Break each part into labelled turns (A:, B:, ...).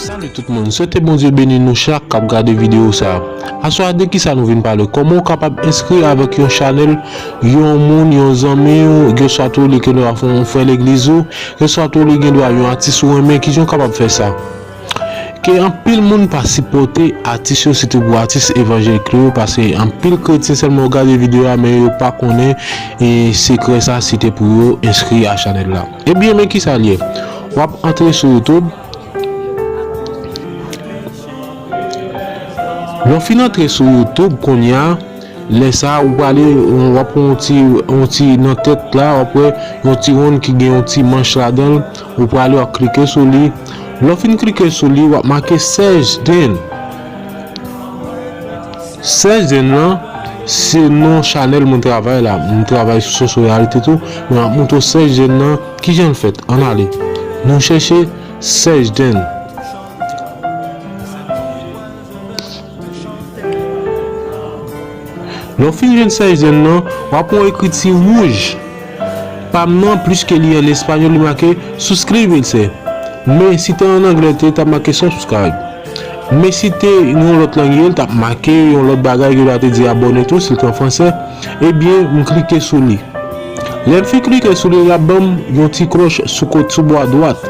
A: Salut tout moun, swete Bondye beni nou chak kap gade video sa. Aswa a de kisa nou vin pale, kòman ou kapab enskri avèk yon chanèl yon moun, yon zanmiw, oswa tou li ke nou a fè yon frè legliz ou, Reswa tou li gen dwa yon atis ou renmen kijan ou kapab fè sa ke anpil moun pa sipòte atis yo sitou pou atis evanjelik yo pase anpil kretyen sèlman yo gade video a men yo pa konnen sekrè sa si te pou yo enskri a chanèl la ebyen men kisa liye wap antre sou youtube lè ou fin antre sou youtube kounya. Lè sa ou prale wap wè yon ti yon ti nan tèt la wap wè yon ti wonn ki gen yon ti manch ladanl ou prale wap klike sou li lèw fin klike sou li wap make search then search then lan se non chanèl mwen travay la mwen travay sou sensoryalite tou men map montre w search then lan kijanl fèt ann ale nou chèche search then. Lè w fin jwenn sèch zèl lan, w ap wè yon ekriti wouj. Pa m nan, pliske li an espanyòl, li make Suscríbense. Men, si te an anglè, li ta make Subscribe. Men, si te yon lòt lang ye, li t ap make yon lòt bagay ki ta te di abòne tou, si l te an fransè. Ebyen, m klike sou li. Lè m fin klike sou li, l ap ban m yon ti klòch sou kot, sou bò adwat.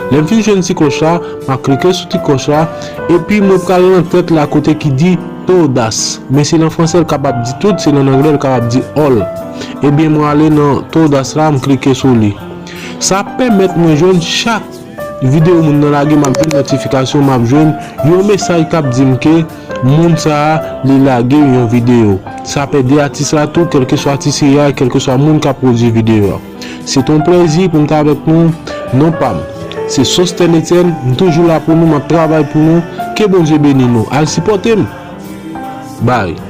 A: Lè m fin jwenn ti klòch la. Map klike sou ti kòch la epi mwen pral nan tèt la kote ki di Todas men se nan fransè l kapab di tout se nan anglè l kapab di all ebyen mwen ale nan Todas la m klike sou li sa ap pèmèt mwen jwenn chak video moun nan lage map jwenn notifikasyon map jwenn yon mesaj kap di m ke moun sa li lage yon video sa ap ede atis la tou kèlkeswa atis li a kèlkeswa moun kap pwodui video a. Se ton plèzi pou m t avèk nou non pam se Sostène Etienne m toujou la pou nou map travay pou nou ke Bondye beni nou al sipòte m bye.